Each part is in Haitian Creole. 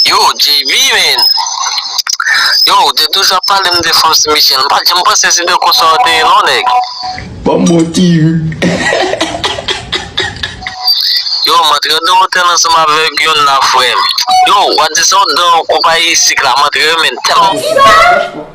Yo JB men Yo ou te toujou ap pale m de Franse Michel m pat janm panse se de konsa ou te ye non nèg Banm bon ti ri Yo m antre nan otèl ansanm avèk yon nan frè m Yo wap di sa w t dan konpayi sik la m antre yo men tèlman.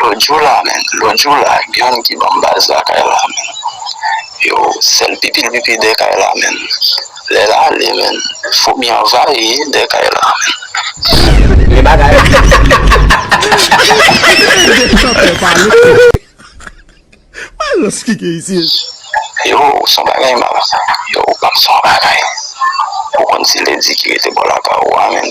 Lòt jou la menm lòt jou la gen youn ki banm baz la kay la menm yo sèl pipil pipi dè kay la menm lèl ale menm foumi anvayi dè kay la menm. Yo son bagay mal sa yo ou konn son bagay ou konn ti ledi ki rete bò lakay ou a menm.